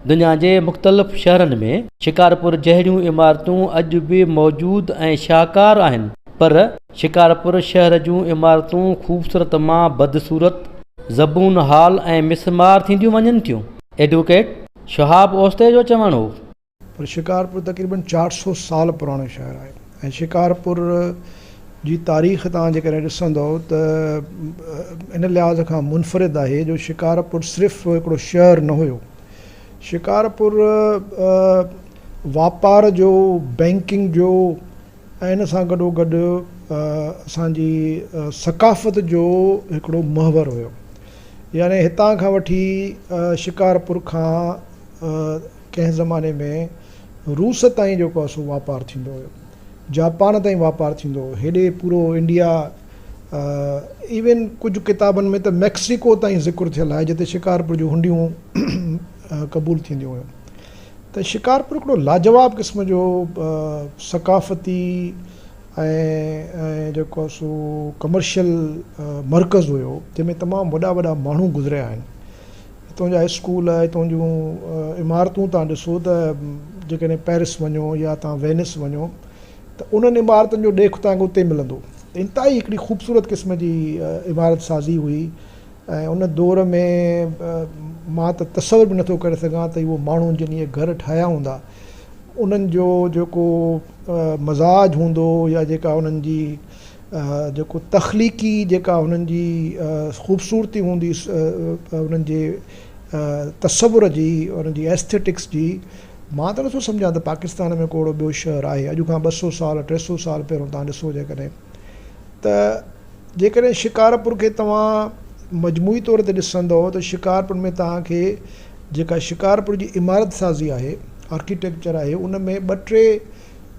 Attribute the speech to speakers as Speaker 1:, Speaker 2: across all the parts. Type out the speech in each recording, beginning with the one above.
Speaker 1: دنيا جي مختلف شهرن ۾. شڪارپور جهڙيون عمارتون اڄ به موجود ۽ شاهڪار آهن پر شڪارپور شهر جون عمارتون خوبصورت مان بدصورت، زبون حال ۽ مسمار ٿينديون وڃن ٿيون، ايڊووڪيٽ شهاب اوستي جو چوڻ هو. پر شڪارپور
Speaker 2: تقريبن چار سؤ سال پراڻو شهر آهي. ۽ شڪارپور جي تاريخ توهان جيڪڏهن ڏسندؤ ته ان لحاظ کان منفرد آهي جو شڪارپور صرف هڪڙو شهر نه هيو شڪارپور واپار جو بئنڪنگ جو ۽ ان سان گڏو گڏ اسان جي ثقافت جو هڪڙو محور هيو يعني هتان کان وٺي شڪارپور کان ڪنهن زماني ۾ روس تائين جيڪو آهي سو واپار ٿيندو هيو. جاپان تائين واپار ٿيندو هو. هيڏي پورو انڊيا ايون ڪجهه ڪتابن ۾ ته ميڪسيڪو تائين ذڪر ٿيل آهي جتي شڪارپور جون هنڊيون قبول ٿينديون هيون. ته شڪارپور هڪڙو لاجواب قسم جو ثقافتي ۽ جيڪو آهي سو ڪمرشل مرڪز هيو جنهن ۾ تمام وڏا وڏا ماڻهو گذريا آهن. هتون جا اسڪول، هتون جون عمارتون تهان ڏسو ته جيڪڏهن پئرس وڃو يا تهان وينس وڃو ته انهن عمارتن جو ڏيک تهان کي اتي ملندو. انتهائي هڪڙي خوبصورت قسم جي عمارت سازي هئي ۽ ان دور ۾ مان ته تصور به نٿو ڪري سگهان ته اهو ماڻهن جن اهي گهر ٺاهيا هوندا انهن جو جيڪو مزاج هوندو يا جيڪا انهن جي جيڪو تخليقي جيڪا هنن جي خوبصورتي هوندي هنن جي تصور جي هنن جي Aesthetics جي مان ته نٿو سمجهان ته پاڪستان ۾ ڪو اهڙو ٻيو شهر آهي اڄ کان ٻه سؤ سال ٽي سؤ سال پهريون توهان ڏسو جيڪڏهن ته جيڪڏهن شڪارپور کي توهان مجموعي طور تي ڏسندو ته شڪارپور ۾ توهان کي جيڪا شڪارپور جي عمارت سازي آهي آرڪيٽيڪچر آهي ان ۾ ٻه ٽي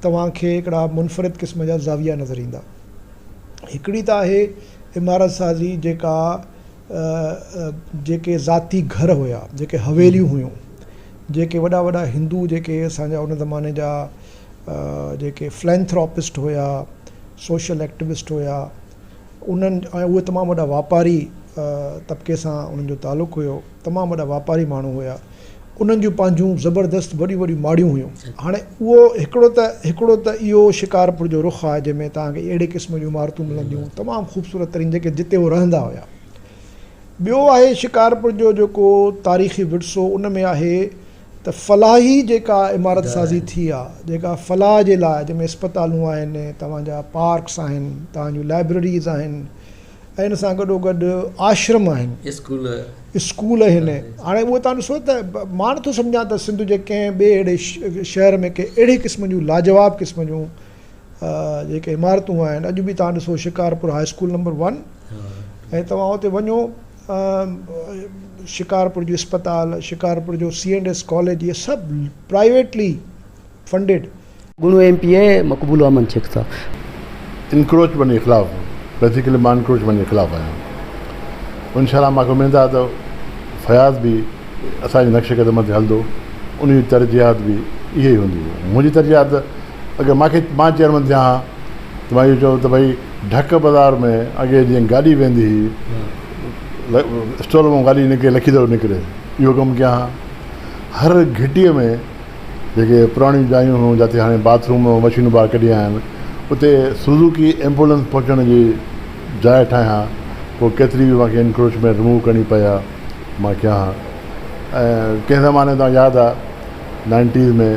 Speaker 2: توهان کي هڪڙا منفرد قسم جا زاويا نظر ايندا. هڪڙي ته آهي عمارت سازي جيڪا جيڪي ذاتي گهر هيا، جيڪي حويليون هيون، جيڪي وڏا وڏا هندو جيڪي اسان جا ان زماني جا جيڪي فلينٿراپسٽ هيا، سوشل ايڪٽوسٽ هيا، انهن ۽ اهي تمام وڏا واپاري طبقي سان انهن جو تعلق هيو تمام وڏا واپاري ماڻهو هيا انهن جون پنهنجون زبردست وڏيون وڏيون ماڙيون هيون هاڻي اهو هڪڙو ته هڪڙو ته اهو شڪارپور جو رخ آهي جنهن ۾ توهان کي اهڙي قسم جون عمارتون ملنديون تمام خوبصورت ترين جيڪي جتي هو رهندا هيا ٻيو آهي شڪارپور جو جيڪو تاريخي ورثو ان ۾ آهي ته فلاحي جيڪا عمارت سازي ٿي آ جيڪا فلاح جي لاء جنهن ۾ اسپتالون آهن توهان جا پارڪس آهن توهان جون لائبريريز آهن ۽ ان سان گڏو گڏ آشرم آهن اسڪول اسڪول آهن هاڻي اهو توهان ڏسو ته مان نٿو سمجهان ته سنڌ جي ڪنهن ٻي اهڙي شهر ۾ ڪنهن اهڙي قسم جون لاجواب قسم جون جيڪي عمارتون آهن اڄ به توهان ڏسو Shikarpur high school number one ۽ توهان اتي وڃو شڪارپور جي اسپتال شڪارپور جو سي اينڊ ايس ڪاليج اهي سڀ پرائيويٽلي فنڊيڊ گڻو M
Speaker 1: P A Maqbool Ahmed Shaikh صاحب. انڪروچمينٽ جي خلاف
Speaker 3: بيسيڪلي مان انڪروچمينٽ جي خلاف آهيان انشاء الله ماکي اميد آهي ته فياض به اسان جي نقش قدم تي هلندو ان جون ترجيحات به اهي ئي هونديون منهنجي ترجيحات ته اگر مان کي مان چيئرمين ٿيان ها ته مان اهو چوندو ته ڀئي ڍڪ بازار ۾ اڳي جيئن گاڏي ويندي هئي اسٽور مان گاڏي نڪري لکي دڙو نڪري اهو ڪم ڪيان ها هر گهٽيء ۾ جيڪي پراڻيون جايون هيون جتي هاڻي باٿروم مشينون ٻاهر ڪڍي آيا آهن اتي سوزوڪي ايمبولينس پهچڻ جي جاء ٺاهيان ها پوء ڪيتري به مون کي انڪروچمينٽ رموو ڪرڻي پئي ها مان ڪيان ها ۽ ڪنهن زماني تان ياد آ nineties ۾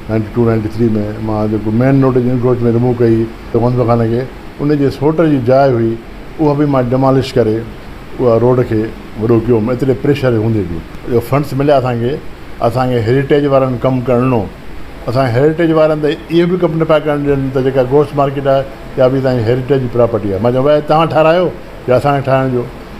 Speaker 3: ninety two ninety three ۾ مان جيڪو مين روڊ جي انڪروچ مين رموو ڪئي ته منظور خان کي ان جي سوٽ جي جاء هئي اها به مان ڊمالش ڪري اها روڊ کي وڏو ڪيو هوم ايتري پريشر هوندي به جو فنڊس مليا اسان کي اسان کي هيريٽيج وارن ڪم ڪرڻ ڏنو اسان هيريٽيج وارن ته اهو به ڪم نه پيا ڪرڻ ڏين ته جيڪا گوشت مارڪيٽ آهي اها به اسان جي هيريٽيج جي پراپرٽي آهي مان چيو ڀاء توهان ٺارايو يا اسان کي ٺاهڻ ڏيو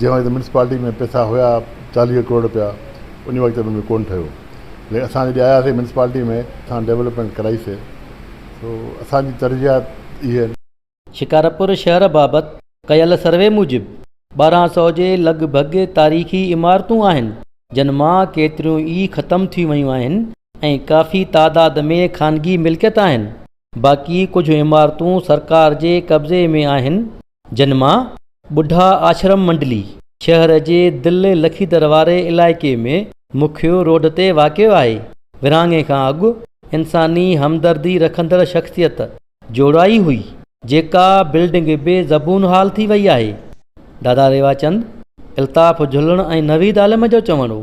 Speaker 3: جنهن وقت ميونسپالٽي ۾ پئسا هيا چاليهه ڪروڙ رپيا ان وقت انهن جو ڪونه ٺهيو ليڪن اسان جڏهن آياسي ميونسپالٽي ۾ اسان ڊيولپمينٽ ڪرائيسي سو اسان جي ترجيحات اهي آهن. شڪارپور
Speaker 1: شهر بابت ڪيل سروي موجب ٻارهن سؤ جي لڳ ڀڳ تاريخي عمارتون آهن جن مان ڪيتريون ئي ختم ٿي ويون آهن ۽ ڪافي تعداد ۾ خانگي ملڪيت آهن باقي ڪجهه عمارتون سرڪار جي قبضي ۾ آهن، جن مان ٻڍا آشرم منڊلي شهر جي دل لکيدر واري علائقي ۾ مکيو روڊ تي واقع آهي. ورهاڱي کان اڳ انساني همدردي رکندڙ شخصيت جوڙائي هئي، جيڪا بلڊنگ بي زبون حال ٿي وئي آهي. دادا ريواچند، الطاف جهلڻ ۽ نويد عالم جو چوڻ هو.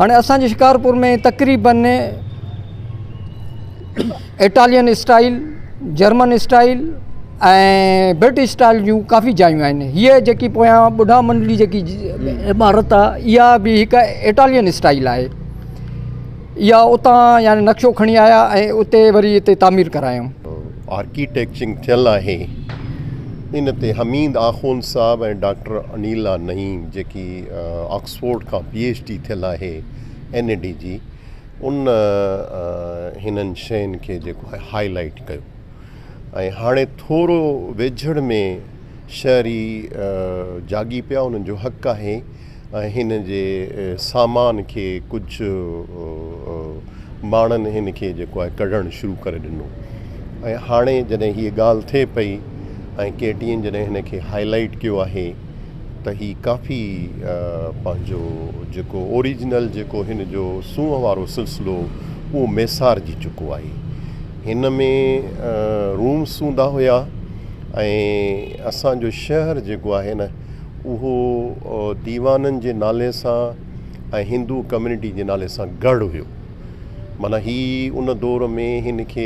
Speaker 4: هاڻي اسان جي شڪارپور ۾ تقريبن Italian style German style ۽ British style جون ڪافي جايون آهن هيء جيڪي پويان ٻڍا منڊلي جيڪي عمارت آهي اها به هڪ اٽالين اسٽائيل آهي اها اتان يعني نقشو کڻي آيا ۽ اتي وري اتي تعمير ڪرايون آرڪيٽيڪچنگ
Speaker 5: ٿيل آهي ان تي حميد آخوند صاحب ۽ ڊاڪٽر انيلا نعيم جيڪي آڪسفورڊ کان پي ايڇ ڊي ٿيل آهي اين اي ڊي جي ان هنن شين کي جيڪو آهي هائي لائيٽ ڪيو ۽ هاڻي ٿورو ويجهڙ ۾ شهري جاڳي پيا انهن جو حق آهي ۽ هن جي سامان کي ڪجهه ماڻهن هن کي جيڪو آهي ڪڍڻ شروع ڪري ڏنو ۽ هاڻي جڏهن هي ڳالهه ٿئي پئي ۽ ڪي ٽي اين جڏهن هن کي هائي لائيٽ ڪيو آهي ته هي ڪافي پنهنجو جيڪو اوريجنل جيڪو هن جو سونهن وارو سلسلو اهو ميسارجي چڪو آهي. هن ۾ روم سوندا هيا ۽ اسان جو شهر جيڪو آهي نه اهو ديوانن جي نالي سان ۽ هندو ڪميونٽي جي نالي سان ڳڙهه هيو. معنيٰ هي ان دور ۾ هن کي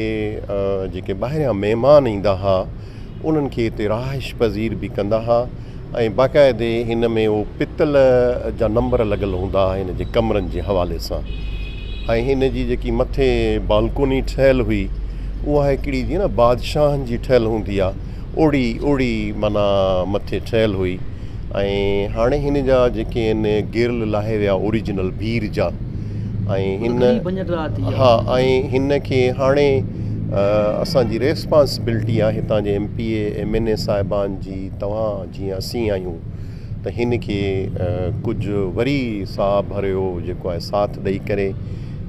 Speaker 5: جيڪي ٻاهريان مهمان ايندا ها انهن کي هتي رهائش پذير به ڪندا ها ۽ باقاعدي هن ۾ هو پتل جا نمبر لڳل هوندا ها هن جي ڪمرن جي حوالي سان ۽ هن جي جيڪي مٿي بالڪوني ٺهيل هئي اها هڪڙي جيئن نه بادشاهن جي ٺهيل هوندي آ اوڙي اوڙي معنيٰ مٿي ٺهيل هئي ۽ هاڻي هن جا جيڪي آهن گيرل لاهي ويا اوريجنل بير جا ۽ هن ها ۽ هن کي هاڻي اسان جي ريسپانسبلٽي آهي هتان جي M P A M N A صاحبان جي توهان جيئن اسين آهيون ته هن کي ڪجهه وري ساهه ڀريو جيڪو آهي ساٿ ڏئي ڪري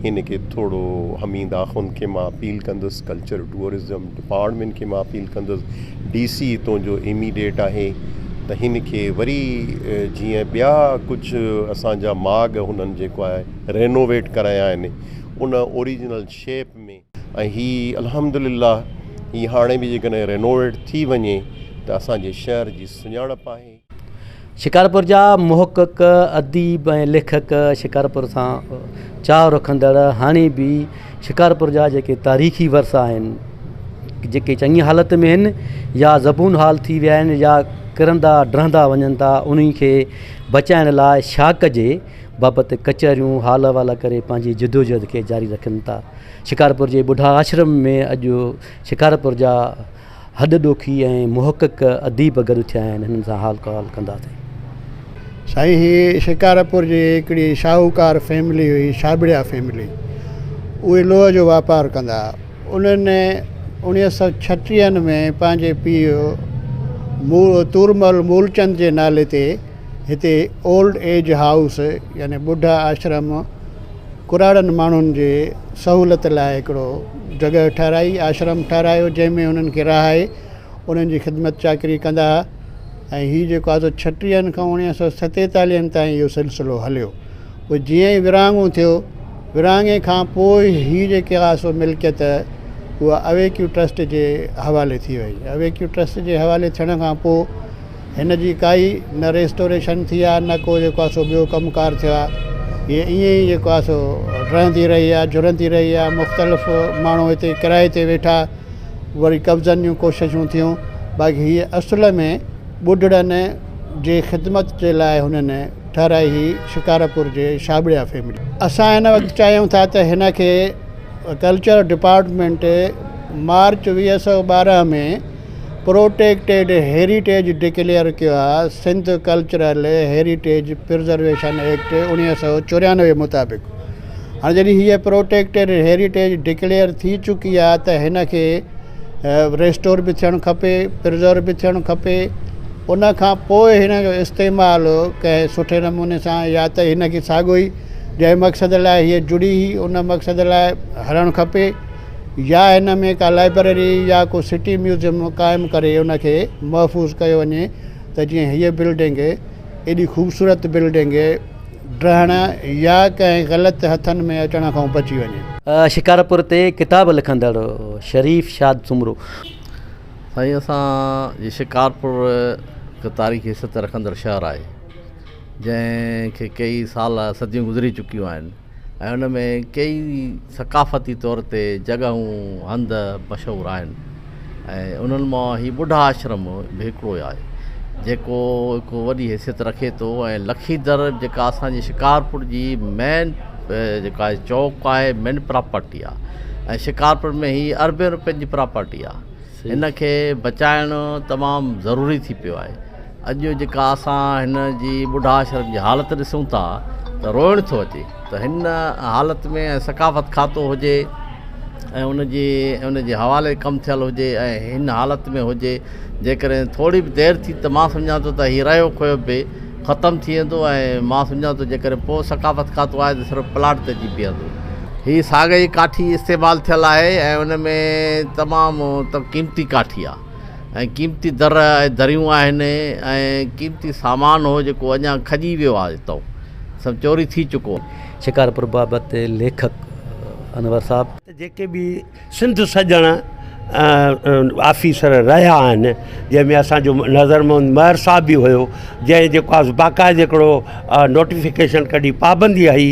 Speaker 5: هن کي ٿورو حميد آخوند کي مان اپيل ڪندس ڪلچر ٽوئرزم پاڻ ٻين کي مان اپيل ڪندس ڊي سي ھتون جو اميڊيٽ آھي ته ھن کي وري جيئن ٻيا ڪجھ اسان جا ماڳ ھنن جيڪو آھي رينوويٽ ڪرايا آھن ان اوريجنل شيپ ۾ ۽ ھي الحمد لله ھي ھاڻي به جيڪڏھن رينوويٽ ٿي وڃي ته اسان جي شھر جي سڃاڻپ آھي. شڪارپور
Speaker 1: جا محقق، اديب ۽ ليکڪ شڪارپور سان چاهه رکندڙ هاڻي به شڪارپور جا جيڪي تاريخي ورثا آهن، جيڪي چڱي حالت ۾ آهن يا زبون حال ٿي ويا آهن يا ڪرندا ڊهندا وڃن ٿا، انهن کي بچائڻ لاء ڇا ڪجي بابت ڪچهريون حال احوال ڪري پنهنجي جدوجهد کي جاري رکن ٿا. شڪارپور جي ٻڍا آشرم ۾ اڄ شڪارپور جا هڏ ڏوکي ۽ محقق اديب گڏ ٿيا آهن هنن سان حال ڪحال ڪنداسين. سائين
Speaker 6: هي شڪارپور جي هڪڙي شاهوڪار فيملي هئي شاهٻڙيا فيملي اهي لوهه جو واپار ڪندا انهن اوڻيهه سؤ ڇٽيهن ۾ پنهنجي پيء تورمل مولچند جي نالي تي هتي اولڊ ايج هائوس يعني ٻڍا آشرم ڪراڙن ماڻهن جي سهولت لاء هڪڙو جڳهه ٺهرائي، آشرم ٺهرايو، جنهن ۾ هنن کي رهائي، انهن جي خدمت چاڪري ڪندا ها ۽ هي جيڪو آهي سو ڇٽيهن کان اوڻيهه سؤ ستيتاليهن تائين اهو سلسلو هليو. پوء جيئن ئي ورهاڱو ٿيو، ورهاڱي کان پوء هي جيڪي آهي سو ملڪيت اها اويڪيو ٽرسٽ جي حوالي ٿي وئي. اويڪيو ٽرسٽ جي حوالي ٿيڻ کان پوء، هن جي ڪائي نه ريسٽوريشن ٿي آهي نه ڪو جيڪو آهي سو ٻيو ڪم ڪار ٿيو آهي هي ائين ئي جيڪو آهي سو ڊهندي رهي آهي جهرندي رهي آهي مختلف ماڻهو هتي ڪرايي تي ويٺا وري قبضن جون ڪوششون ٿيون باقي هي اصل ۾ ٻڍڙن جي خدمت جي لاء هنن ٺهرائي هي شڪارپور جي شابڙيا فيملي اسان هن وقت چاهيون ٿا ته هن کي ڪلچر ڊپارٽمينٽ مارچ ويهه سو ٻارهن ۾ پروٽيڪٽيڊ هيريٽيج ڊڪليئر ڪيو آهي، Sindh cultural heritage preservation act اڻويهه سؤ چوريانوي مطابق هاڻي جڏهن هيء پروٽيڪٽيڊ هيريٽيج ڊڪليئر ٿي چڪي آهي ته هن کي ريسٽور به ٿيڻ کپي پرزرو به ٿيڻ کپي ان کان پوء هن جو استعمال ڪنهن سٺي نموني سان يا ته هن کي ساڳو ئي جنهن مقصد لاء هيء جڙي هئي ان مقصد لاء هلڻ کپي يا هن ۾ ڪا لائبرري يا ڪو سٽي ميوزيم قائم ڪري ان کي محفوظ ڪيو وڃي ته جيئن هيء بلڊنگ ايڏي خوبصورت بلڊنگ ڊهڻ يا ڪنهن غلط هٿن ۾ اچڻ کان بچي وڃي. شڪارپور تي
Speaker 1: ڪتاب لکندڙ شريف شاد سومرو. سائين
Speaker 7: اسان جي شڪارپور هڪ تاريخي حيثيت رکندڙ شهر آهي جنهن کي ڪيئي سال صديون گذري چڪيون آهن. ۽ ان ۾ ڪيئي ثقافتي طور تي جڳهون، هنڌ، مشهور آهن ۽ انهن مان هي ٻڍا آشرم به هڪڙو آهي، جيڪو هڪ وڏي حيثيت رکي ٿو ۽ لکيدر جيڪا اسان جي شڪارپور جي مين جيڪا چوڪ آهي، مين پراپرٽي آهي ۽ شڪارپور ۾ هي اربين روپين جي پراپرٽي آهي، ان کي بچائڻ تمام ضروري ٿي پيو آهي. اڄ جيڪا اسان هن جي ٻڍا آشرم جي حالت ڏسون ٿا ته روئڻ ٿو اچي ته هن حالت ۾ ۽ ثقافت کاتو هجي ۽ ان جي ان جي حوالي ڪم ٿيل هجي ۽ هن حالت ۾ هجي جيڪڏهن ٿوري به دير ٿي ته مان سمجهان ٿو ته هي رهيو کهيو به ختم ٿي ويندو ۽ مان سمجهان ٿو جيڪڏهن پوء ثقافت کاتو آهي ته صرف پلاٽ تي اچي بيهندو هي ساڳئي ڪاٺي استعمال ٿيل آهي ۽ ان ۾ تمام قيمتي ڪاٺي آهي ۽ قيمتي در ۽ دريون آهن ۽ قيمتي سامان هو جيڪو اڃا کڄي ويو آهي اتو سڀ چوري ٿي چڪو آهي. شڪارپور بابت
Speaker 1: ليکڪ انور صاحب. جيڪي به
Speaker 8: سنڌ سڄڻ آفيسر رهيا آهن جنهن ۾ اسان جو نظر محمد مهر صاحب به هيو جنهن جيڪو آهي باقاعده هڪڙو نوٽيفڪيشن ڪڍي پابندي هئي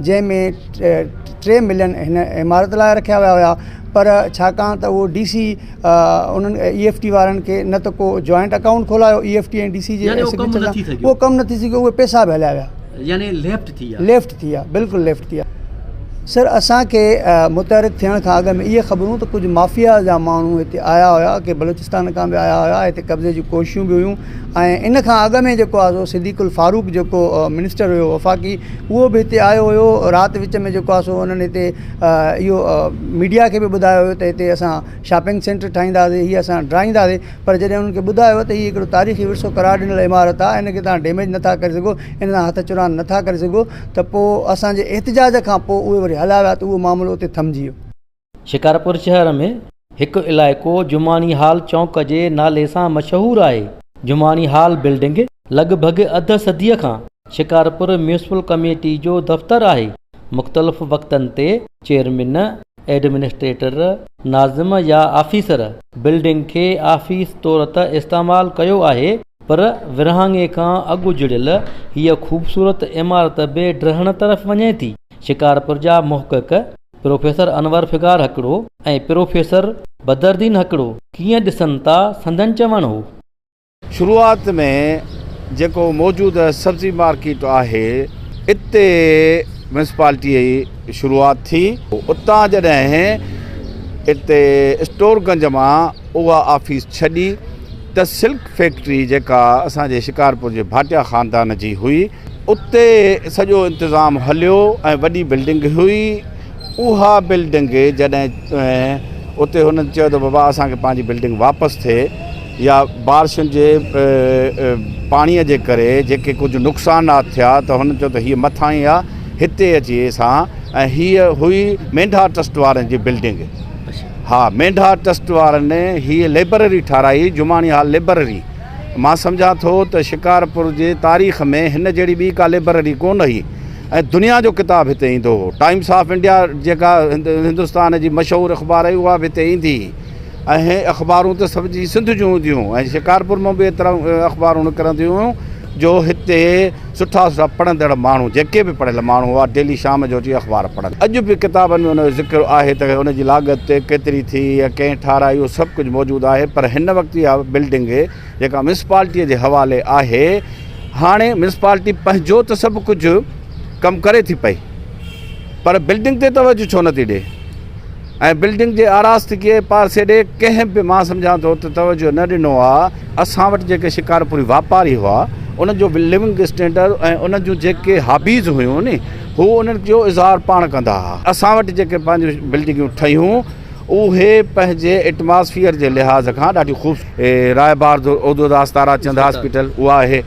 Speaker 9: جنهن ۾ ٽي ملين هن عمارت لاء رکيا ويا هيا پر ڇاڪاڻ ته اهو ڊي سي انهن اي ايف ٽي وارن کي نه ته ڪو جوائنٽ اڪائونٽ کولايو E F T ۽ D C جي اهو ڪم نه ٿي سگهيو اهي پيسا به هليا ويا يعني ليفٽ ٿي
Speaker 1: ويا ليفٽ ٿي ويا بلڪل ليفٽ ٿي ويا سر اسان کي متحرڪ ٿيڻ کان اڳ ۾ اهي خبرون ته ڪجهه مافيا جا ماڻهو هتي آيا هيا ڪي بلوچستان کان به آيا هيا هتي قبضي جون ڪوششون به هيون ۽ ان کان اڳ ۾ جيڪو آهي سو صديق الفاروق جيڪو منسٽر هيو وفاقي اهو به هتي آيو هيو رات وچ ۾ جيڪو آهي سو انهن هتي اهو ميڊيا کي به ٻڌايو هيو ته هتي اسان شاپنگ سينٽر ٺاهينداسي هي اسان ڊاهينداسي پر جڏهن انهن کي ٻڌايو ته هي هڪڙو تاريخي ورثو قرار ڏنل عمارت آهي ان کي تهان ڊيميج نه ٿا ڪري سگهو ان سان هٿ چراند نه ٿا ڪري سگهو ته پوء اسانجي احتجاج کان پوء اهي وري هليا ويا ته اهو معاملو اتي ٿمجي ويو شڪارپور شهر ۾ هڪ علائقو جماڻي هال چونڪ جي نالي سان مشهور آهي. جماڻي هال بلڊنگ لڳ ڀڳ اڌ صديء کان شڪارپور ميونسپل ڪميٽي جو دفتر آهي. مختلف وقتن تي چيئرمين، ايڊمنسٽريٽر، ناظم يا آفيسر بلڊنگ کي آفيس طور ته استعمال ڪيو آهي پر ورهاڱي کان اڳ جڙيل هيء خوبصورت عمارت بي ڊهڻ طرف وڃي ٿي. شڪارپور جا محقق، پروفيسر انور فغار هڪڙو ۽ پروفيسر بدرالدين هڪڙو ڪيئن ڏسن ٿا سندن چوڻ هو. شروعات
Speaker 10: ۾ جيڪو موجود سبزي مارڪيٽ آهي اتي ميونسپالٽي جي شروعات ٿي اتان جڏهن اتي اسٽور گنج مان اها آفيس ڇڏي ته سلڪ فيڪٽري جيڪا اسان جي شڪارپور جي ڀاٽيا خاندان جي هئي اتي سڄو انتظام هليو ۽ وڏي بلڊنگ هئي اها بلڊنگ جڏهن اتي هن چيو ته بابا اسان کي پنهنجي بلڊنگ واپس ٿئي يا بارشن جي پاڻيء جي ڪري جيڪي ڪجهه نقصانات ٿيا ته هن چيو ته هيء مٿاهين آهي هتي اچي اسان ۽ هيء هئي مينڍا ٽرسٽ وارن جي بلڊنگ ها مينڍا ٽرسٽ وارن هيء لئبرري ٺاهرائي جماڻي هال لئبرري مان سمجهان ٿو ته شڪارپور جي تاريخ ۾ هن جهڙي ٻي ڪا لئبرري ڪونه هئي ۽ دنيا جو ڪتاب هتي ايندو هو. ٽائيمس آف انڊيا جيڪا هندستان جي مشهور اخبار هئي اها به هتي ايندي هئي ۽ اخبارون ته سڀ جي سنڌ جون هونديون هيون ۽ شڪارپور مان به ايتريون اخبارون نڪرنديون هيون جو هتي سٺا سٺا پڙهندڙ ماڻهو جيڪي به پڙهيل ماڻهو هئا ڊيلي شام جو اچي اخبار پڙهن اڄ به ڪتابن ۾ ان جو ذڪر آهي ته ان جي لاڳت ڪيتري ٿي يا ڪنهن ٺاهرائي اهو سڀ ڪجهه موجود آهي پر هن وقت اها بلڊنگ جيڪا ميونسپالٽي جي حوالي آهي هاڻي ميونسپالٽي پنهنجو ته سڀ ڪجهه ڪم ڪري ٿي پئي پر بلڊنگ تي توجه ڇو نٿي ڏئي ۽ بلڊنگ جي آراستگيء پارسي ڏي ڪنهن به مان سمجهان ٿو ته توجه نه ڏنو آ. اسان وٽ جيڪي شڪارپوري واپاري هئا انهن جو ليونگ اسٽينڊرڊ ۽ انهن جون جيڪي هابيز هيون ني هو انهن جو اظهار پاڻ ڪندا هئا. اسان وٽ جيڪي پنهنجون بلڊنگيون ٺهيون. اهي پنهنجي ايٽماسفيئر جي لحاظ کان ڏاڍيون خوبصورت هي راء بار اودو داس تارا چند هاسپيٽل اها آهي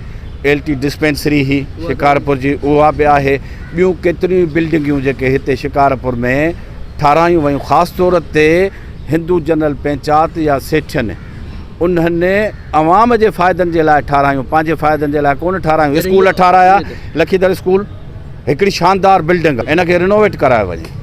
Speaker 10: ايل ٽي ڊسپينسري هي شڪارپور جي اها به آهي ٻيون ڪيتريون ئي بلڊنگيون جيڪي هتي شڪارپور ۾ ٺاراهيون ويون خاص طور تي هندو جنرل پنچات يا سيٺين انهن عوام جي فائدن جي لاء ٺاراهيون پنهنجي فائدن جي لاء ڪونه ٺاراهيون اسڪول ٺاراهيا لکيدر اسڪول هڪڙي شاندار بلڊنگ ان کي رينوويٽ ڪرايو وڃي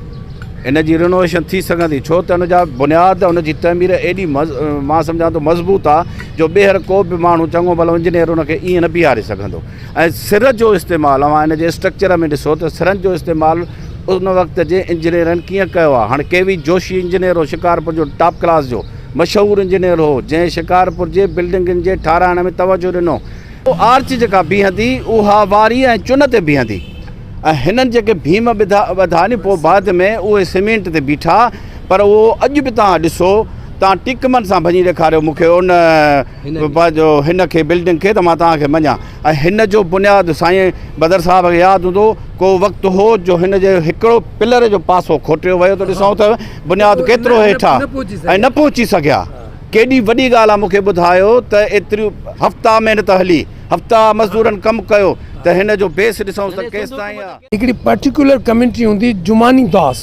Speaker 10: ان جي رينوويشن ٿي سگهندي ڇو ته ان جا بنياد ان جي تعمير ايڏي مان سمجهان ٿو مضبوط آ جو ٻيهر ڪو به ماڻهو چڱو ڀلو انجنيئر ان کي ائين نه بيهاري سگهندو ۽ سر جو استعمال اوهان ان جي اسٽرڪچر ۾ ڏسو ته سرن جو استعمال ان وقت جي انجنيئرن ڪيئن ڪيو آ هاڻ ڪي وي جوشي انجنيئر هو شڪارپور جو ٽاپ ڪلاس جو مشهور انجنيئر هو جنهن شڪارپور جي بلڊنگن جي ٺاراهڻ ۾ توجهه ڏنو اهو آرچ جيڪا بيهندي، اها واريء ۽ چن تي بيهندي ۽ هنن جيڪي ڀيم ٻڌا ني پوء بعد ۾ اهي سيمينٽ تي بيٺا پر اهو اڄ به توهان ڏسو توهان ٽيڪمن سان ڀڃي ڏيکاريو مون کي ان پنهنجو هن کي بلڊنگ کي ته مان توهان کي مڃان ۽ هن جو بنياد سائين بدر صاحب کي ياد هوندو ڪو وقت هو جو هن جي هڪڙو پلر جو پاسو کوٽيو ويو ته ڏسون ته بنياد ڪيترو هيٺ آهي ۽ نه پهچي سگهيا. ڪيڏي وڏي ڳالهه آ مون کي ٻڌايو ته ايتريون هفتا محنت هلي هفتا مزدورن ڪم ڪيو ته هن جو بيس ڏسئونس ته ڪيستائين آ. هڪڙي پرٽيڪولر
Speaker 11: ڪميونٽي هوندي جماني داس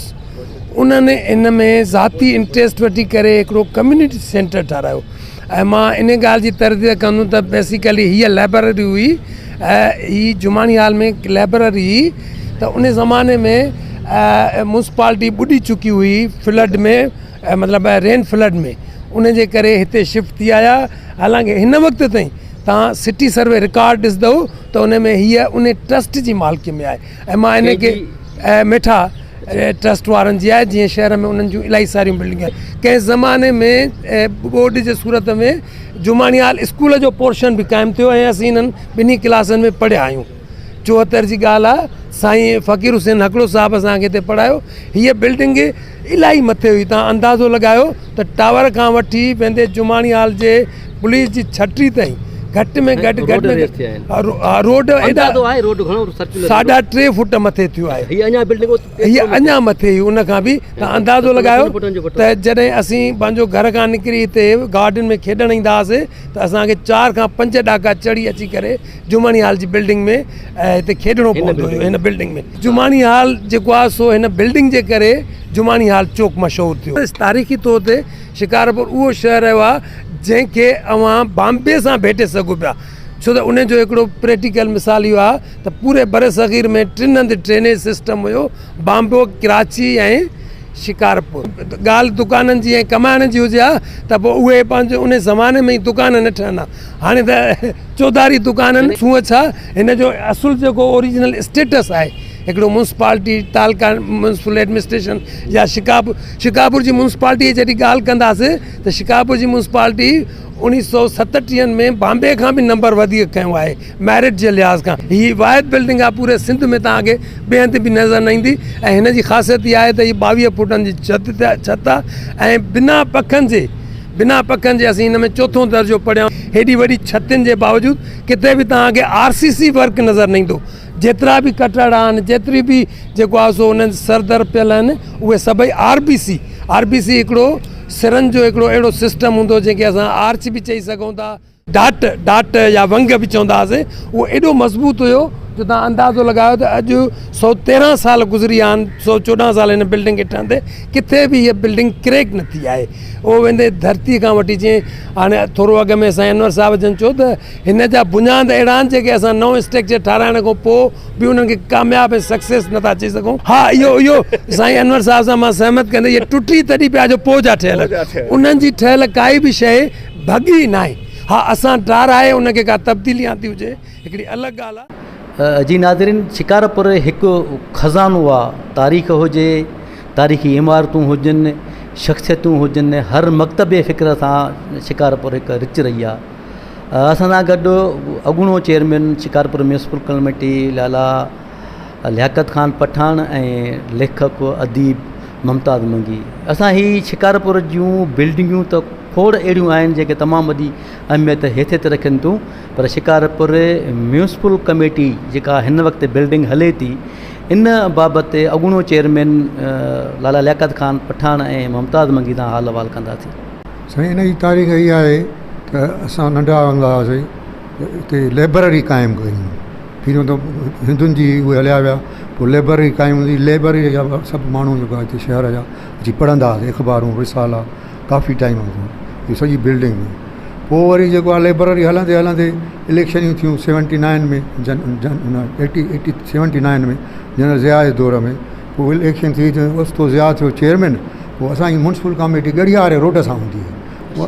Speaker 11: انهن ان ۾ ذاتي انٽريسٽ وٺي ڪري هڪڙو ڪميونٽي سينٽر ٺهرايو ۽ مان انهي ڳالهه جي ترديد ڪندم ته بيسيڪلي هيء لائبرري هئي ۽ هي جماني هال ۾ هڪ لائبرري هئي ته انهي زماني ۾ مونسپالٽي ٻڏي چڪي هئي فلڊ ۾ مطلب آهي رين فلڊ ۾ ان جي ڪري هتي شفٽ ٿي آيا حالانڪه هن وقت تائين تان سٽي سروي رڪارڊ ڏسندو ته ان ۾ هي ان ٽرسٽ جي مالڪي ۾ آهي ۽ مان ان کي ميٺا ٽرسٽ وارن جي آهي جيئن شهر ۾ انهن جون الائي ساريون بلڊنگون آهن ڪنهن زماني ۾ ٻوڏ جي صورت ۾ جماڻيال اسڪول جو پورشن به قائم ٿيو ۽ اسين هنن ٻنهي ڪلاسن ۾ پڙهيا آهيون چوهتر جي ڳالهه آ سائين فقير حسين هڪڙو صاحب اسان کي هتي پڙهايو هي بلڊنگ الاهي مٿي هئي تان اندازو لڳايو ته ٽاور کان وٺي ويندي جماڻي هال جي پوليس جي ڇٽي تائين گهٽ ۾ گهٽ گهٽ ۾ روڊ اندازو آهي روڊ گهڻو سرڪل ساڍا ٽي فوٽ مٿي ٿيو آهي هي اڃا بلڊنگ هي اڃا مٿي هئي ان کان به تان اندازو لڳايو ته جڏهن اسين پنهنجو گهر کان نڪري هتي گارڊن ۾ کيڏڻ ايندا هئاسي ته اسان کي چار کان پنج ڏاڪا چڙهي اچي ڪري جماڻي هال جي بلڊنگ ۾ هتي کيڏڻو پوندو هيو هن بلڊنگ ۾ جماڻي هال جيڪو آهي سو هن بلڊنگ جي ڪري جماڻي هال چوڪ مشهور ٿيو. تاريخي طور تي شڪارپور اهو شهر رهيو آهي جنهن کي اوهان بامبي سان ڀيٽي سگهو پيا ڇو ته ان جو هڪڙو پريٽيڪل مثال اهو آهي ته پوري برصغير ۾ ٽن هنڌ ٽرينيج سسٽم هيو بامبو ڪراچي ۽ شڪارپور ڳالهه دڪانن جي ۽ ڪمائڻ جي هجي ها ته پوء اهي پنهنجو ان زماني ۾ ئي دڪان نه ٺهندا هاڻي ته چوڌاري دڪانن سونهن ڇا هن جو اصل جيڪو اوريجنل اسٽيٽس آهي هڪڙو منسپالٽي تعلقا ميونسپل ايڊمنسٽريشن يا شڪاپور شڪاپور جي منسپالٽي جڏهن ڳالهه ڪنداسي ته شڪاپور جي منسپالٽي اوڻيهه سو ستٽيهن ۾ بامبي کان به نمبر وڌيڪ کنيو آهي ميرٽ جي لحاظ کان هي واحد بلڊنگ آهي پوري سنڌ ۾ توهان کي ٻئي هنڌ به نظر نه ايندي ۽ هن جي خاصيت اها آهي ته هي ٻاويهه فوٽن جي ڇت ڇت آهي ۽ بنا پکن جي بنا پکن جي اسين هن ۾ چوٿون درجو پڙهيا آهن. هيڏي وڏي ڇتين جي باوجود ڪٿي به توهان کي آر سي سي ورڪ نظر نه ايندو. جيترا به ڪٽهڙا آهن، جيتري به جيڪو آهي سو انهن سر در پيل آهن، اهي سڀئي R B C, R B C هڪڙو سرن جو هڪڙو اهڙو سسٽم هوندو جنهن کي اسان آرچ به چئي سگهون ٿا. ڊاٽ، Dot، يا ونگ به چوندا هئاسين، اهو ايڏو مضبوط هيو جو توهان اندازو لڳايو ته اڄ سؤ تيرنهن سال گذري ويا آهن، سؤ چوڏهن سال هن بلڊنگ کي ٺهندي ڪٿي به هيء بلڊنگ ڪريڪ نه ٿي آهي. اهو ويندي ڌرتي کان وٺي جيئن هاڻي ٿورو اڳ ۾ سائين انور صاحب جن چيو ته هن جا بنياد اهڙا آهن جيڪي اسان نئون اسٽرڪچر ٺهرائڻ کان پوء به انهن کي ڪامياب ۽ سڪسيس نه ٿا چئي سگهون. ها اهو اهو سائين انور صاحب سان مان سهمت ڪندي اهي ٽٽي تڏهن پيا جو پوء جا ٺهيل انهن جي ٺهيل ڪائي به شيء ڀڳي ئي ناهي. ها اسان ٽار آهي ان کي ڪا تبديلي آندي هجي هڪڙي الڳ ڳالهه آ. جي ناظرين
Speaker 1: شڪارپور هڪ خزانو آ تاريخ هجي تاريخي عمارتون هجن شخصيتون هجن هر مڪتب فڪر سان شڪارپور هڪ رچ رهي آ اسان سان گڏ اڳوڻو chairman Shikarpur municipal committee Lala Liaquat Khan Pathan ۽ ليکڪ اديب ممتاز منگي اسان هي شڪارپور جون بلڊنگون ته کوڙ اهڙيون آهن جيڪي تمام وڏي اهميت حيثيت رکن ٿيون پر شڪارپور ميونسپل ڪميٽي جيڪا هن وقت بلڊنگ هلي ٿي ان بابت اڳوڻو چيئرمين لالا لياقت خان پٺاڻ ۽ ممتاز منگي سان حال احوال ڪنداسين سائين ان جي
Speaker 12: تاريخ اها آهي ته اسان ننڍا هوندا هئاسين اتي لئبرري قائم ڪيون پھريون ته ھندن جي اھي ھليا ويا پوء لئبرري قائم ھوندي لئبرري جا سڀ ماڻھو جيڪو آھي ھتي شھر جا اچي پڙھندا ھئاسي اخبارون رسالا ڪافي ٽائيم ھوندو ھيو سڄي بلڊنگ ھئي پوء وري جيڪو آھي لئبرري ھلندي ھلندي اليڪشنيون ٿيون سيونٽي نائن ۾ جن جن ھن eighty eighty seventy nine ۾ general Zia جي دور ۾ پوء اليڪشن ٿي ته اوچتو ضياء ٿيو چيئرمين پوء اسانجي مونسپل ڪاميٽي ڳڙھياري روڊ سان ھوندي ھئي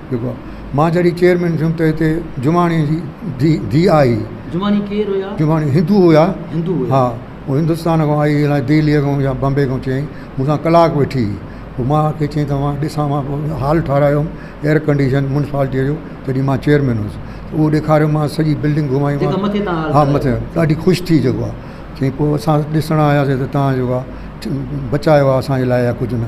Speaker 12: جيڪو آ مان جڏهن چيئرمين ٿيم ته هتي جماڻي جي ڌي ڌي آئي جماڻي ڪير هيا
Speaker 1: جماڻي هندو هيا هندو
Speaker 12: هيا ها هو هندستان کان آئي الائي دهلي کان يا بمبي کان چيائين مون سان ڪلاڪ ويٺي پوء مان کي چيائين ته مان ڏسان مان پوء هال ٺارايو ايئر ڪنڊيشن مونسپالٽي جو تڏهن مان چيئرمين هوس اهو ڏيکاريو مان سڄي بلڊنگ گهمائي مان جيڪا مٿي تان هال ها مٿي ٺارايو ڏاڍي خوش ٿي جيڪو آ چيائين پوء اسان ڏسڻ آياسين ته تان جيڪو آ بچايو آ اسان جي لاء يا ڪجهه نه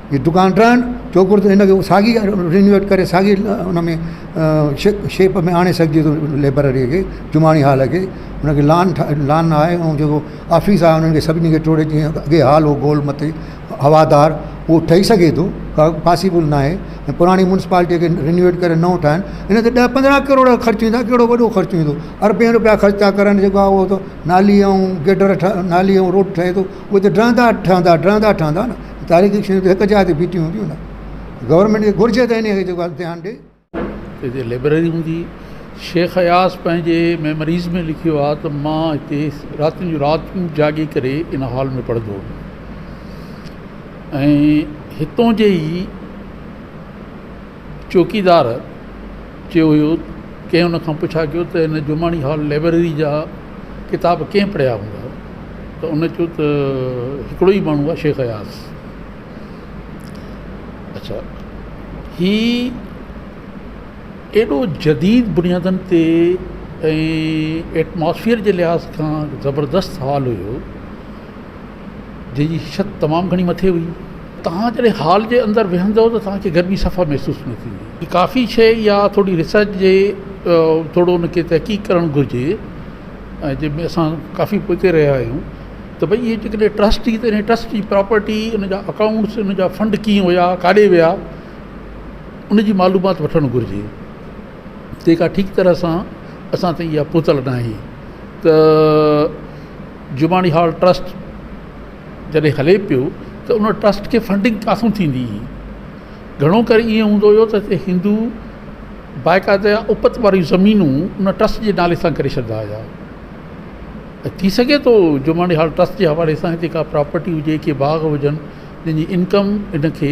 Speaker 12: ھي دڪان ٽرڻ چوڪور تي ھن کي ساڳي رينوويٽ ڪري ساڳي ان ۾ شيپ شيپ ۾ آڻي سگھجي ٿو ليبرري کي جماڻي ھال کي ان کي لان ٺاھي لان آھي ۽ جيڪو آفيس آھي انھن کي سڀني کي ٽوڙي جيئن اڳي ھال ھو گول مٿي ھوادار اھو ٺھي سگھي ٿو ڪا پاسيبل ناھي ۽ پراڻي مونسپالٽي کي رينوويٽ ڪري نئون ٺاھن ان تي ڏھ پندرھن ڪروڙ خرچ ٿيندا ڪھڙو وڏو خرچ ٿيندو اربين روپيا خرچ ٿا ڪرن جيڪو آھي اھو نالي ۽ گٽر ٺھي نالي ۽ روڊ ٺھي ٿو اھو ته ڊھندا ٺھندا ڊھندا ٺھندا ته تاريخي شيون ته هڪ جاء تي بيٺيون هونديون نه گورنمينٽ کي گهرجي ته انهيء کي جيڪو آهي ڌيان ڏي. هتي
Speaker 13: لئبرري هوندي. شيخ اياز پنهنجي ميموريز ۾ لکيو آهي ته مان هتي راتين جون راتيون جاڳي ڪري ان هال ۾ پڙهندو هوم ۽ هتون جي ئي چوڪيدار چيو هيو، ڪنهن هن کان پڇا ڪيو ته هن جماڻي هال لئبرري جا ڪتاب ڪنهن پڙهيا هوندا ته هن چيو ته هڪڙو ئي ماڻهو آهي شيخ اياز اڇا هي ايڏو جديد بنيادن تي ۽ ايٽماسفيئر جي لحاظ کان زبردست هال هيو جنهن جي ڇت تمام گهڻي مٿي هئي. توهان جڏهن هال جي اندر ويهندؤ ته توهان کي گرمي صفا محسوس نه ٿيندي. ڪافي شيء اها ٿوري ريسرچ جي ٿورو ان کي تحقيق ڪرڻ گهرجي ۽ جنهن ۾ اسان ڪافي پوئتي رهيا آهيون ته ڀئي اهي جيڪڏهن ٽرسٽ جي ته ان ٽرسٽ جي پراپرٽي ان جا اڪائونٽس ان جا فنڊ ڪيئن هيا ڪاڏي ويا ان جي معلومات وٺڻ گهرجي جيڪا ٺيڪ طرح سان اسان تائين اها پهتل ناهي ته جماڻي هال ٽرسٽ جڏهن هلي پيو ته ان ٽرسٽ کي فنڊنگ ڪاٿو ٿيندي هئي گهڻو ڪري ائين هوندو هيو ته هتي هندو باقاعده اپت واريون زمينون ان ٽرسٽ جي نالي سان ڪري ڇڏيندا هيا ته ٿي سگهي ٿو جماڻي هال ٽرسٽ جي حوالي سان هتي ڪا پراپرٽي هجي ڪي باغ هجن جن جي انڪم ان کي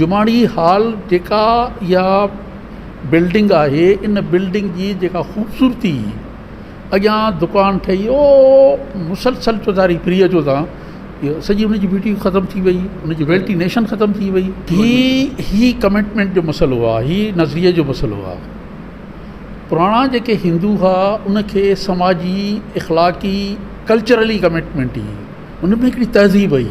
Speaker 13: جماڻي هال جيڪا اها بلڊنگ آهي ان بلڊنگ جي جيڪا خوبصورتي اڳيان دڪان ٺهي او مسلسل چوڌاري فري اچو تان اهو سڄي ان جي بيوٽي ختم ٿي وئي ان جي وينٽينيشن ختم ٿي وئي ٿي هي ڪمٽمينٽ جو مسئلو آهي هي نظريي جو مسئلو آهي پراڻا جيڪي هندو هئا ان کي سماجي اخلاقي ڪلچرلي ڪمٽمينٽ هئي ان ۾ هڪڙي تهذيب هئي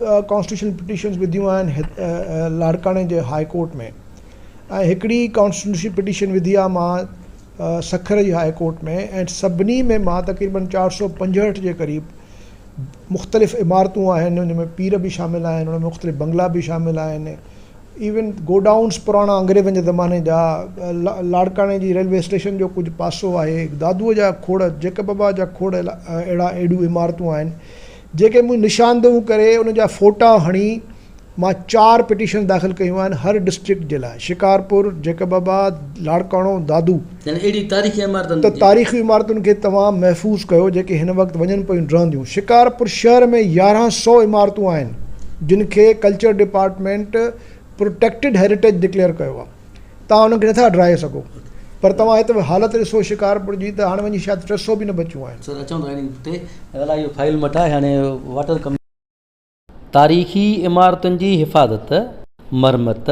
Speaker 2: ڪانسٽيٽيوشنل پٽيشنز وڌيون آهن لاڙڪاڻي جي هاء ڪورٽ ۾ ۽ هڪڙي ڪانسٽيٽيوشنل پٽيشن وڌي آهي مها سکر جي هاء ڪورٽ ۾ ۽ سڀني ۾ مها تقريبن چار سو پنجهٺ جي قريب مختلف عمارتون آهن ان ۾ پير به شامل آهن ان مختلف بنگلا به شامل آهن ايون گوڊائونز پراڻا انگريزن جي زماني جا لاڙڪاڻي جي ريلوي اسٽيشن جو ڪجهه پاسو آهي دادوء جا کوڙ جيڪب ابا جا کوڙ اهڙا اهڙيون عمارتون آهن جيڪي مون نشاندهون ڪري ان جا فوٽا هڻي مان چار پٽيشنز داخل ڪيون آهن هر ڊسٽرڪٽ جي لاء شڪارپور، جيڪب آباد، لاڙڪاڻو، دادو. يعني اهڙي تاريخي عمارتن ته تاريخي عمارتن کي توهان محفوظ ڪيو جيڪي هن وقت وڃن پيون ڊهنديون شڪارپور شهر ۾ يارهن سئو عمارتون آهن جن کي culture department protected heritage declare ڪيو آهي. توهان انهن کي نٿا ڊاهي سگهو پر توهان هت حالت ڏسو شڪارپور جي ته هاڻ وڃي شايد ٽي سئو به نه بچيون آهن. سر اچون ٿا انهن تي الا اهو فائل مٽ آهي هاڻي واٽر ڪم.
Speaker 1: تاريخي عمارتن جي حفاظت، مرمت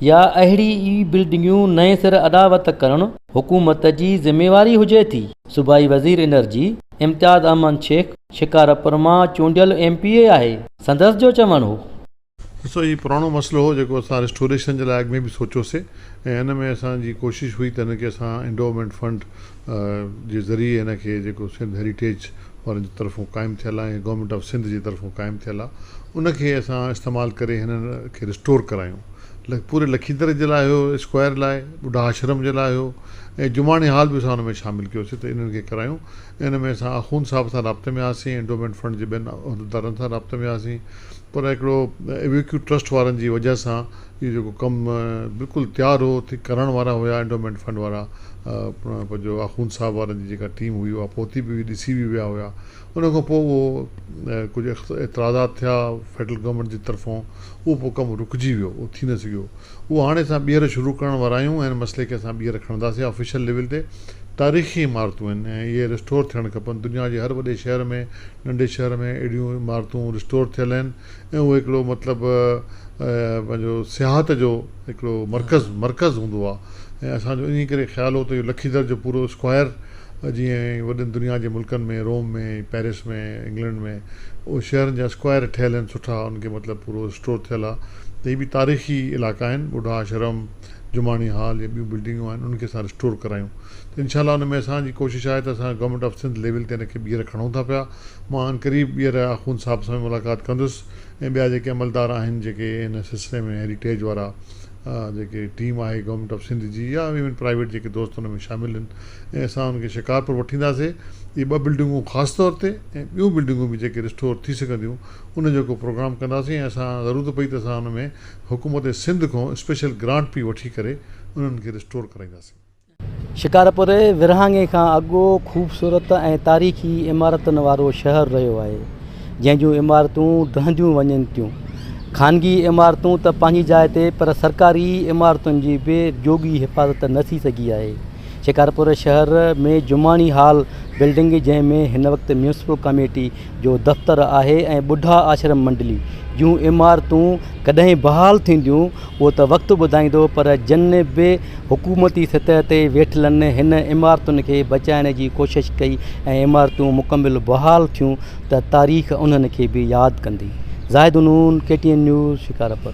Speaker 1: يا اهڙي ئي بلڊنگيون نئين سر اڏاوت ڪرڻ حڪومت جي ذميواري هجي ٿي، صوبائي وزير انرجي امتياز احمد شيخ شڪارپور مان چونڊيل ايم پي اي آهي، سندس جو چوڻ هو. ڏسو هي
Speaker 3: پراڻو مسئلو هو جيڪو اسان ريسٽوريشن جي لاء اڳ ۾ به سوچيوسين ۽ ان ۾ اسان جي ڪوشش هئي ته هن کي اسان انڊوومينٽ فنڊ جي ذريعي هن کي جيڪو سنڌ هيريٽيج وارن جي طرفون قائم ٿيل آهي گورنمينٽ آف سنڌ جي طرفون قائم ٿيل آ ان کي اسان استعمال ڪري هنن کي ريسٽور ڪرايون پوري لکيندر جي لاء هيو اسڪوائر لاء ٻڍا آشرم جي لاء هيو ۽ جماڻي هال به اسان ان ۾ شامل ڪيوسين ته انهن کي ڪرايون ان ۾ اسان آخوند صاحب سان رابطي ۾ آسين، انڊومينٽ فنڊ جي ٻين عهديدارن سان رابطي ۾ آسين، پر هڪڙو ايويڪيو ٽرسٽ وارن جي وجهه سان اهو جيڪو ڪم بلڪل تيار هو، تي ڪرڻ وارا هيا انڊومينٽ فنڊ وارا پنهنجو آخوند صاحب وارن جي جيڪا ٽيم هئي اها پهتي به هئي، ڏسي به ويا هيا، ان کان پوء اهو ڪجهه اعتراضات ٿيا فيڊرل گورنمينٽ جي طرفون اهو پوء ڪم رڪجي ويو اهو ٿي نه سگهيو. اهو هاڻي اسان ٻيهر شروع ڪرڻ وارا آهيون ۽ ان مسئلي کي اسان ٻيهر کڻنداسين آفيشل ليول تي تاريخي عمارتون آهن ۽ اهي ريسٽور ٿيڻ کپن دنيا جي هر وڏي شهر ۾ ننڍي شهر ۾ اهڙيون عمارتون ريسٽور ٿيل آهن ۽ اهو هڪڙو مطلب پنهنجو سياحت جو هڪڙو مرڪز مرڪز هوندو آهي ۽ اسان جو انهي ڪري خيال هو ته اهو لکيدر جو پورو اسڪوائر جيئن وڏن دنيا جي ملڪن ۾ روم ۾ پيرس ۾ انگلنڊ ۾ اهي شهرن جا اسڪوائر ٺهيل آهن سٺا ان کي مطلب پورو ريسٽور ٿيل آهي ته هي به تاريخي علائقا آهن ٻڍا آشرم، جماڻي هال يا ٻيون بلڊنگون آهن انهن کي اسان ريسٽور ڪرايون ته انشاء الله ان ۾ اسان جي ڪوشش آهي ته اسان گورنمينٽ آف سنڌ ليول تي ان کي ٻيهر کڻون ٿا پيا مان عن قريب ٻيهر آخوند صاحب سان به ملاقات ڪندس ۽ ٻيا جيڪي عملدار آهن جيڪي ان سلسلي ۾ هيريٽيج وارا جيڪي ٽيم آهي گورنمينٽ آف سنڌ جي يا ايون پرائيويٽ جيڪي دوست ان ۾ شامل آهن ۽ اسان ان کي شڪارپور وٺينداسي اهي ٻه بلڊنگون خاص طور تي ۽ ٻيون بلڊنگون به جيڪي ريسٽور ٿي سگهنديون ان جو ڪو پروگرام ڪنداسين ۽ اسان ضرورت پئي ته اسان ان ۾ حڪومت سنڌ کان اسپيشل گرانٽ پي وٺي ڪري انهن کي ريسٽور ڪرائينداسين. شڪارپور
Speaker 1: ورهاڱي کان اڳو خوبصورت ۽ تاريخي عمارتن وارو شهر رهيو آهي، جنهن جون عمارتون ڊهنديون وڃن ٿيون. خانگي عمارتون ته پنهنجي جاء تي پر سرڪاري عمارتن جي به جوڳي حفاظت نه ٿي سگهي آهي. شڪارپور شهر ۾ جماڻي هال بلڊنگ جنهن ۾ هن وقت ميونسپل ڪاميٽي جو دفتر آهي ۽ ٻڍا آشرم منڊلي جون عمارتون ڪڏهن بحال ٿينديون اهو ته وقت ٻڌائيندو پر جن به حڪومتي سطح تي ويٺلن هن عمارتن کي بچائڻ جي ڪوشش ڪئي ۽ عمارتون مڪمل بحال ٿيون ته تاريخ انهن کي به ياد ڪندي. Zahid Noon, K T N news, Shikarpur.